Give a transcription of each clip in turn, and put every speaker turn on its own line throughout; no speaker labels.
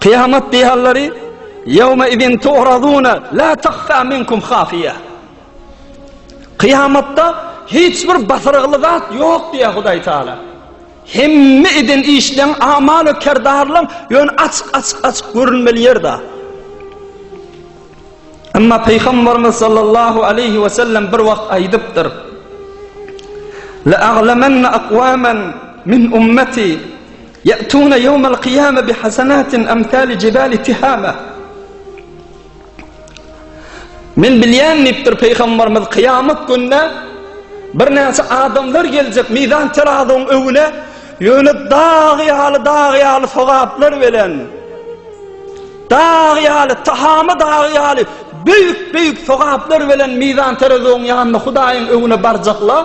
Kyýamat dehallary Yawma idin tu'raduna la takhfa minkum khafiya. Kyýamatda hiç bir basyrygly zat ýok diýýär Hudaý Taala. Hemme eden işleň amal we kerdarlaň ýöne açyk açyk açyk görünmeli ýerde. Emma Peygamberimiz sallallahu aleyhi ve sellem bir wagt aýdypdyr. La aglamanna aqwaman min ummati Ýa'tuna ýewmel kyýame bi hasanatin amsali jibali tihama. Men bilýän diýipdir Pygamberimiz kyýamat günde birnäçe adamlar geljek mizan terazyň öwüne ýöne dag ýaly dag ýaly sogaplar bilen dag ýaly tahama dag ýaly büyük büyük sogaplar bilen mizan terazyň ýanyna Hudaýyň öwüne barjaklar.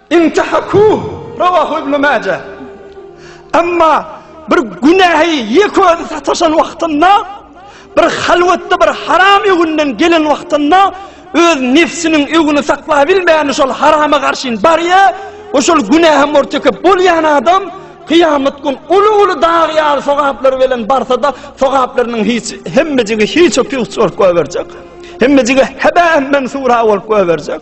Intahaku, Rawahu Ibnu Maje. Emma bir günähi ýeke özi sataşan wagtynda, bir halwatda bir haram öwünden gelen wagtynda öz nefsiniň öwüni saklabilmän şol harama garşyn barýa, we şol günähe murtekip bolýan adam kyýamat gün uly-uly dag ýaly sogaplar bilen barsa-da, sogaplarynyň hiç hemmejigi hiç-u-püç bolup goýberjek. Hemmejigi hebä-mensura bolup goýberjek.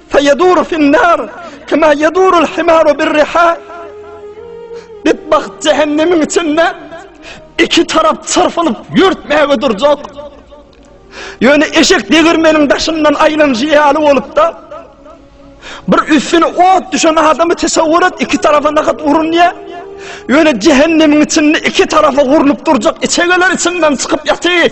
Feýeduru fin-nar, kema yedurul himaru bir-riha. Betbagt jehennemiň içinde iki tarap çyrpylyp ýörtmäge durjak. Ýöne eşek degirmeniň daşyndan aýlanjy ýaly bolupda, bir üstüne ot düşen adamy tesawwur et, iki tarafa nakat urunýar. Ýöne jehennemiň içinde iki tarafa urlup durjak içegeler içinden çykyp ýatyr.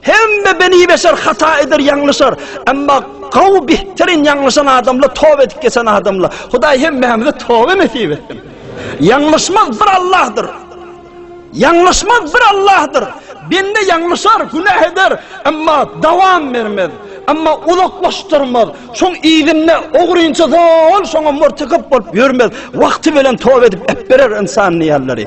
Hemme beni beşer hata eder, ýalňyşar. Emma gawy bihtirin ýalňyşan adamla toba edip geçen adamla. Hudaý hemmämize toba nesip etsin. Ýalňyşmaz bir Allahdyr. Ýalňyşmaz bir Allahdyr. Bende ýalňyşar, günah eder, emma dawam bermez. Emma uzaklaşdyrmaz. Şoň ýerinde ogrynça zol, şoňa murtykyp bolup ýörmez. Wagty bilen toba edip ep berer insan diýerleri.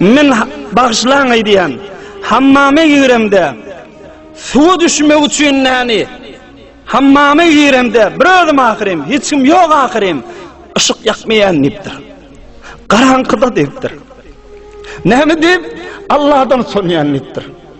Men bagşylaň aýdýan, hammama giremde, suwa düşmek üçin näni, hammama giremde bir özüm ahyrym, hiç kim ýok ahyrym, yşyk ýakmaýan diýipdir. Garaňkyda diýipdir. Näme diýip, Allahdan soňýan diýipdir.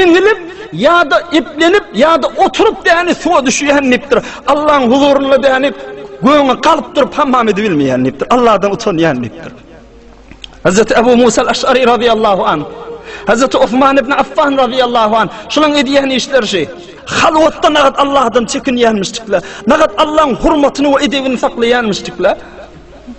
Eňilip ýa-da eplenip ýa-da oturyp däni suwa düşýän diýipdir. Allaň huzurynda däni göwni galyp durup hammam edip bilmeýän diýipdir. Allahdan utanýan diýipdir. Hazreti Abu Musa al-Aş'ari radiyallahu anh. Hazreti Osman ibn Affan radiyallahu anh. Şulan edýän işleri şi. Halwatda nagat Allahdan çekinýänmişdikler. Nagat Allah'ın hurmatini ve edebini saklaýanmişdikler.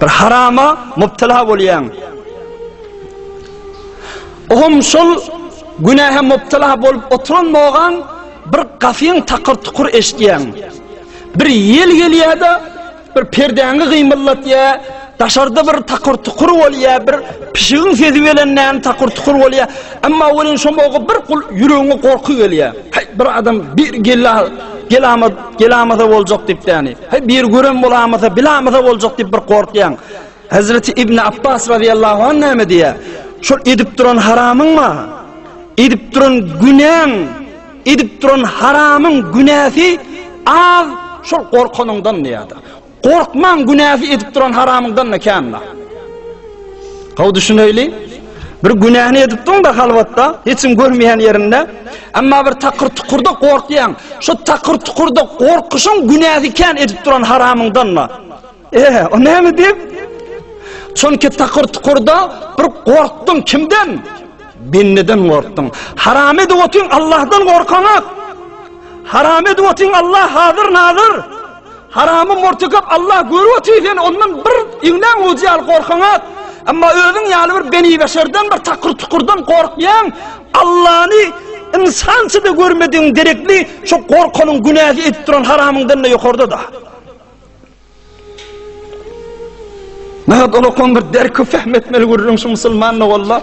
Bir harama mubtala bolýaň. Oňam şol günähe mubtala bolup oturan bogaň bir gafyň takyr tukur eşitýäň. Bir ýel gelýär-de, bir perdäňi gymyldatýar, daşarda bir takyr tukur bolýar, bir pişigiň sesi bilen näme takyr tukur bolýar. Emma welin şo bir gul ýüregiňe gorky gelýär. Haý, bir adam bir gella, gelama Gelamasa boljak diýip däni. He bir görem bolamasa, bilamasa boljak diýip bir gorkýan. Hazreti İbn Abbas radıyallahu anh näme diýýär? Şol edip duran haramyň ma? Edip duran günäň, edip duran haramyň günäsi az şol gorkanyňdan diýýär. Gorkmaň günäsi edip duran haramyňdan-da känla. Gowy düşüneýli. Bir günäni edipdiň-de halwatda, hiç kim görmeýän ýerinde, emma bir takyr-tukurda gorkýaň. Şu takyr-tukurda gorkuşyň günäsi kän edip duran haramyňdan-da. Eh, o näme diýip? Çünki takyr-tukurda bir gorkdyň kimden? Bendeden gorkdyň. Haram edip otyň Allahdan gorkaňak. Haram edip otyň Allah hazır-nazir. Haramy mortekap Allah görüp otyr sen ondan bir iňlän uzy ýaly gorkaňat. Emma özüň ýaly bir beni beşerden bir takyr tukurdan gorkýan Allany insançy da görmediň derekli şu gorkanyň günäsi edip duran haramyňdan da ýokarda da. Näme ola bir derki fehmetmeli görüň şu musulmanyň walla.